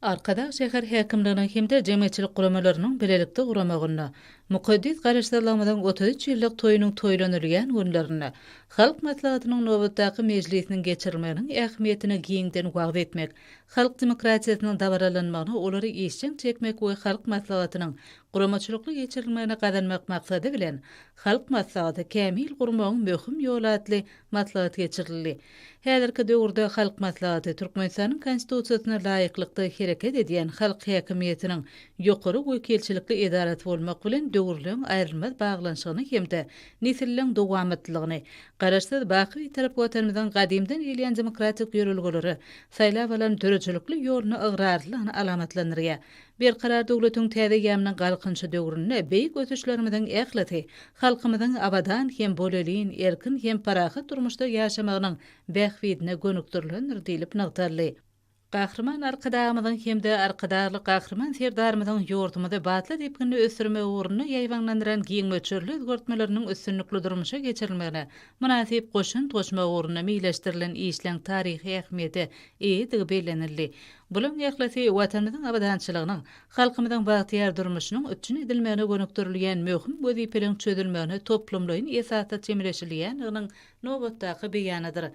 Arkadag şäher häkimliginiň hem-de jemgyýetçilik guramalarynyň bilelikde guramagynda mukaddes Garaşsyzlygymyzyň otuz üç ýyllyk toýunyň toýlanylýan günlerinde Halk Maslahatynyň nobatdaky mejlisiniň geçirilmeginiň ähmiýetini giňden wagyz etmek, halk demokratiýasynyň dabaralanmagyna olary işjeň çekmek we Halk Maslahatynyň guramaçylykly geçirilmegini gazanmak maksady bilen Halk Maslahaty kämil gurmagyň möhüm ýoly atly maslahat geçirildi. Häzirki döwürde Halk Maslahaty Türkmenistanyň Konstitusiýasyna laýyklykda hereket edýän halk häkimiýetiniň ýokary wekilçilikli edarasy bolmak bilen döwürleň aýrylmaz baglanyşygyny hem-de nesilleň dowamatlylygyny, Garaşsyz, baky Bitarap Watanymyzyň gadymdan gelýän demokratik ýörelgelere saýlap alan döredijilikli ýoluna ygrarlylygyny alamatlandyrýar. Berkarar döwletiň täze ýamynyň Galkynyşy döwründe beýik ösüşlerimiziň ählisi halkymyzyň abadan hem bolelin, erkin hem parahat durmuşda ýaşamagynyň bähbidine gönükdirilendir diýlip nygtaldy. Gahryman Arkadagymyzyň hem-de Arkadagly Gahryman Serdarymyzyň ýurdumyzy batly depginde ösdürmek ugrunda ýaýbaňlandyran giň möçberli özgertmeleriniň üstünlikli durmuşa geçirilmegine mynasyp goşant goşmak ugrunda meýilleşdirilen işleň taryhy ähmiýete eýedigi bellenildi Bularyň ählisi Watanymyzyň abadançylygynyň, halkymyzyň bagtyýar durmuşynyň üpjün edilmegine gönükdirilýän möhüm wezipeleriň çözülmegine toplumlaýyn esasda çemeleşilýändiginiň nobatdaky beýanydyr.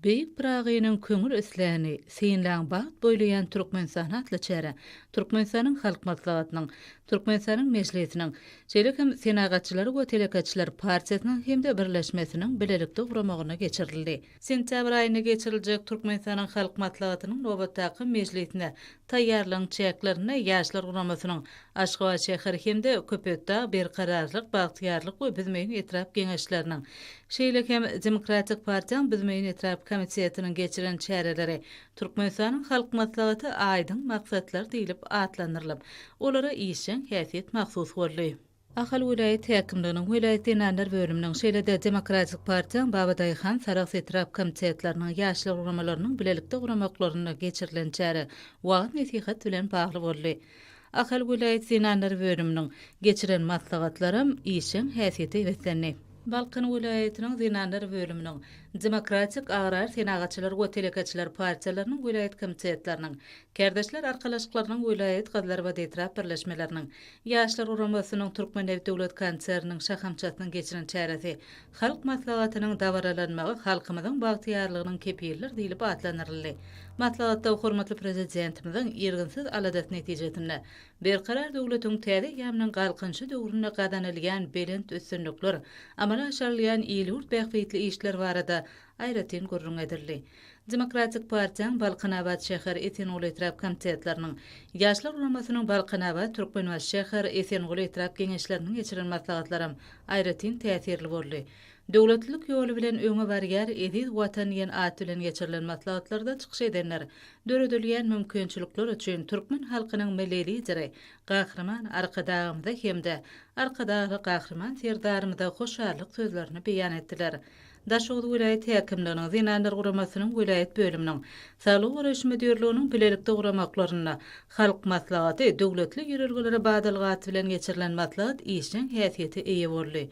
Beýik Pyragynyň köňül isläni, Synlaň bagt boýlaýan Türkmenistany atly çäre Türkmenistanyň Halk Maslahatynyň, Türkmenistanyň Mejlisiniň, şeýle hem Senagatçylar we telekeçiler partiýasynyň hem-de birleşmesiniň bilelikde guramagynda geçirildi. Sentýabr aýynda geçiriljek Türkmenistanyň Halk Maslahatynyň nobatdaky mejlisine taýýarlygyň çäklerinde Ýaşlar guramasynyň Aşgabat şäher hem-de Köpetdag, Berkararlyk, Bagtyýarlyk we Büzmeýin etrap Geňeşleriniň, şeýle hem Demokratik partiýaň Büzmeýin etrap komitetiniň geçiren çäreleri Türkmenistanyň Halk Maslahaty aýdyň maksatlar diýlip atlandyrylyp, olara işjeň häsiýet mahsus boldy. Ahal welaýat häkimliginiň, welaýat zenanlar bölüminiň, şeýle-de Demokratik partiýaň Babadaýhan, Sarahs etrap komitetleriniň, ýaşlar guramalarynyň bilelikde guramaklarynda geçirilen çäre wagyz-nesihat bilen bagly boldy. Ahal welaýat zenanlar bölüminiň geçiren maslahatlaram işjeň häsiýete beslendi. Balkan welaýatynyň zenanlar bölüminiň, Demokratik, Agrar, Senagatçylar we Telekeçiler partiýalarynyň welaýat komitetleriniň, Kärdeşler arkalaşyklarynyň welaýat, Gazlarbat etrap birleşmeleriniň, Ýaşlar guramasynyň Türkmennebit döwlet konserniniň şahamçasynyň geçiren çäresi Halk Maslahatynyň dabaralanmagy halkymyzyň bagtyýarlygynyň kepilidir diýlip atlandyryldy. Maslahatda hormatly Prezidentimiziň irginsiz aladasy netijesinde Berkarar döwletiň täze eýýamynyň Galkynyşy döwründe gazanylýan belent üstünlikler, amala aşyrylýan il-ýurt bähbitli işler barada Aýratyn gürrüň edildi. Demokratik partiýaň Balkanabat şäher, Esenguly etrap komitetleriniň, Ýaşlar guramasynyň Balkanabat, Türkmenbaşy şäher, Esenguly etrap geňeşleriniň geçiren maslahatlaram aýratyn täsirli boldy. Döwletlilik ýoly bilen öňe barýar, eziz Watan diýen at bilen geçirilen maslahatlarda çykyş edenler döredilýän mümkinçilikler üçin türkmen halkynyň Milli Lideri Gahryman Arkadagymyza hem-de Arkadagly Gahryman Serdarymyza hoşallyk sözlerini beýan etdiler. Daşoguz welaýat häkimliginiň, Zenanlar guramasynyň welaýat bölüminiň, Saglygy goraýyş müdirliginiň bilelikde guramaklarynda Halk Maslahaty döwletli ýörelgelere badalgaty bilen geçirilen maslahat işjeň häsiýete eýe boldy.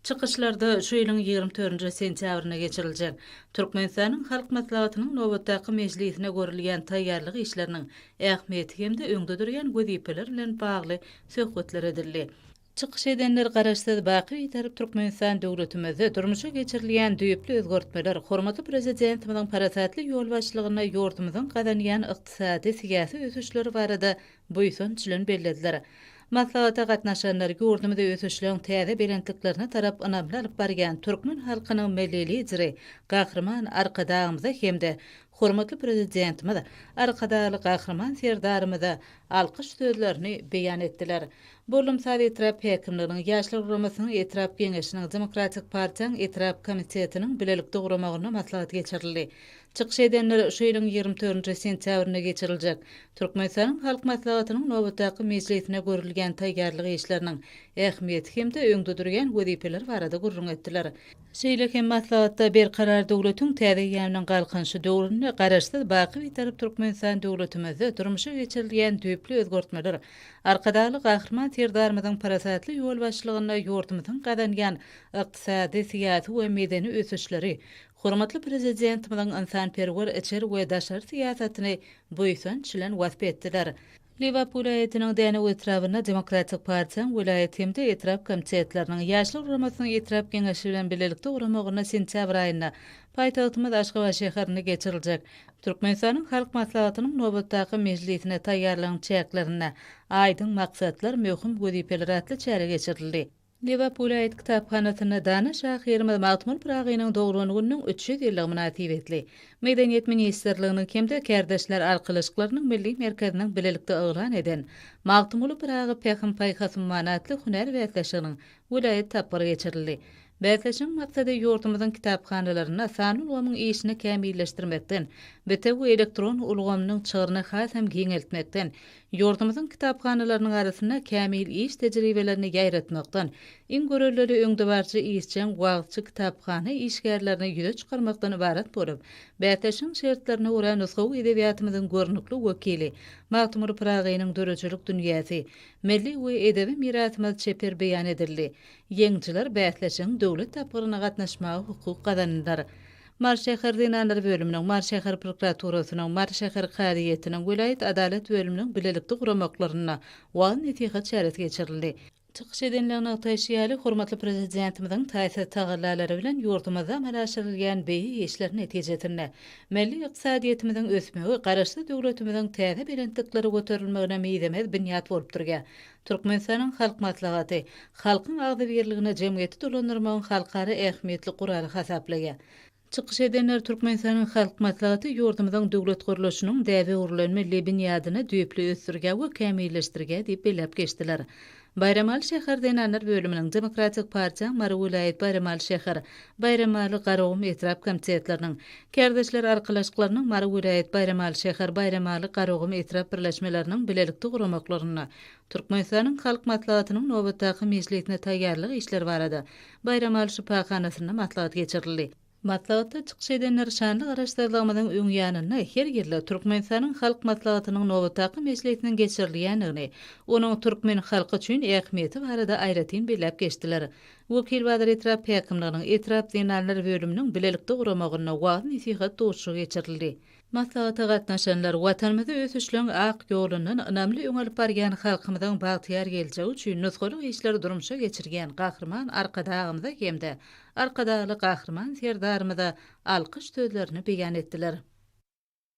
Çykyşlarda şu ýylyň ýigrimi törünji sentýabrynda geçiriljek Türkmenistanyň Halk Maslahatynyň nobatdaky mejlisine görülýän taýýarlyk işleriniň ähmiýeti hem-de öňde durýan wezipeler bilen bagly söhbetler edildi. Çykyş edenler Garaşsyz, baky Bitarap Türkmenistan döwletimizde durmuşa geçirilýän düýpli özgertmeler, hormatly Prezidentimiziň parasatly ýolbaşçylygynda ýurdumyzyň gazanýan ykdysady, syýasy ösüşleri barada buýsanç bilen bellediler. Maslahata gatnaşanlar ýurdumyzy ösüşleň täze belentliklerine tarap ynamly alyp barýan türkmen halkynyň Milli Lideri Gahryman Arkadagymyza hem-de Hormatly Prezidentimiz Arkadagly Gahryman Serdarymyza alkyş sözlerini beýan etdiler. Bollumsaz etrap häkimliginiň, Ýaşlar guramasynyň etrap Geňeşiniň, Demokratik partiýaň etrap komitetiniň bilelikde guramagynda maslahat geçirildi. Çykyş edenler şu ýylyň ýigrimi dördünji sentýabrynda geçiriljek Türkmenistanyň Halk Maslahatynyň nobatdaky mejlisine görülýän taýýarlyk işleriniň ähmiýeti hem-de öňde durýan wezipeler barada gürrüň etdiler. Şeýle hem maslahatda Berkarar döwletiň täze eýýamynyň Galkynyşy döwründe Garaşsyz, baky Bitarap Türkmenistan döwletimizde durmuşa geçirilýän düýpli özgertmeler, Arkadagly Gahryman Serdarymyzyň parasatly ýolbaşçylygynda ýurdumyzyň gazanýan ykdysady, syýasy we medeni ösüşleri, hormatly Prezidentimiziň ynsanperwer içeri we daşary syýasatyny buýsanç bilen wasp etdiler. Lebap welaýatynyň Dänew etrabynda Demokratik partiýaň welaýat hem-de etrap komitetleriniň, Ýaşlar guramasynyň etrap geňeşi bilen bilelikde guramagynda sentýabr aýynda paýtagtymyz Aşgabat şäherinde geçiriljek Türkmenistanyň Halk Maslahatynyň nobatdaky mejlisine taýýarlygyň çäklerinde Aýdyň maksatlar, möhüm wezipeler atly çäre geçirildi. Lebap welaýat kitaphanasynda dana şahyrymyz Magtymguly Pyragynyň doglan gününiň üç ýüz ýyllygy mynasybetli Medeniýet ministrliginiň hem-de Kärdeşler arkalaşyklarynyň Milli merkeziniň bilelikde yglan eden Magtymguly Pyragy Pähim-paýhas ummany atly hünär bäsleşiginiň welaýat tapgyry geçirildi. Bäsleşigiň maksady ýurdumyzyň kitaphanalarynda sanly ulgamyň işini kämilleşdirmekden, bitewi elektron ulgamynyň çygryny hasam giňeltmekden, Ýurdumyzyň kitaphanalarynyň arasynda kämil iş tejribelerini ýaýratmakdan, iň görellili öňdebaryjy işjeň wagyzçy kitaphana işgärlerini ýüze çykarmakdan ybarat bolup, bäsleşigiň şertlerine görä nusgawy edebiýatymyzyň görnükli wekili Magtymguly Pyragynyň döredijilik dünýäsi, milli we edebi mirasymyz çeper beýan edildi. Ýeňijiler bäsleşigiň döwlet tapgyryna gatnaşmaga hukuk gazandylar. Mary şäher zenanlar bölüminiň, Mary şäher prokuraturasynyň, Mary şäher kazyýetiniň, welaýat adalat bölüminiň bilelikde guramaklarynda wagyz-nesihat çäresi geçirildi. Çykyş edenler nygtaýşy ýaly, hormatly Prezidentimiziň taýsyz tagallalary bilen ýurdumyzda amala aşyrylýan beýik işler netijesinde, milli ykdysadyýetimiziň ösmegi Garaşsyz döwletimiziň täze belentliklere göterilmegine mizemez binýat bolup durýar. Türkmenistanyň Halk Maslahaty halkyň agzybirligini jemgyýeti dolandyrmagyň halkara ähmiýetli guraly hasaplaýar. Çykyş edenler Türkmenistanyň Halk Maslahaty ýurdumyzyň döwlet gurluşynyň däbe-öwrülenme lebin ýadyny düýpli ösdürge we kämilleşdirge diýip belläp geçdiler. Baýramaly şäher zenanlar bölüminiň, Demokratik partiýaň Mary welaýat Baýramaly şäher, Baýramaly, Garagum etrap komitetleriniň, Kärdeşler arkalaşyklarynyň Mary welaýat Baýramaly şäher, Baýramaly, Garagum etrap birleşmeleriniň bilelikde guramaklarynda Türkmenistanyň Halk Maslahatynyň nobatdaky mejlisine taýýarlyk işleri barada Baýramaly şypahanasynda maslahat geçirildi. Maslahatda çykyş edenler şanly Garaşsyzlygymyzyň öň ýanynda her ýylda Türkmenistanyň Halk Maslahatynyň nobatdaky mejlisiniň geçirilýändigini, onuň türkmen halky üçin ähmiýeti barada aýratyn belläp geçdiler. Wekilbazar etrap häkimliginiň etrap zenanlar bölüminiň bilelikde guramagynda wagyz-nesihat duşuşygy geçirildi. Maslahata gatnaşanlar Watanymyzy ösüşleň ak ýolundan ynamly öňe alyp barýan, halkymyzyň bagtyýar geljegi üçin nusgalyk işleri durmuşa geçirýän Gahryman Arkadagymyza hem-de Arkadagly Gahryman Serdarymyza alkyş sözlerini beýan etdiler.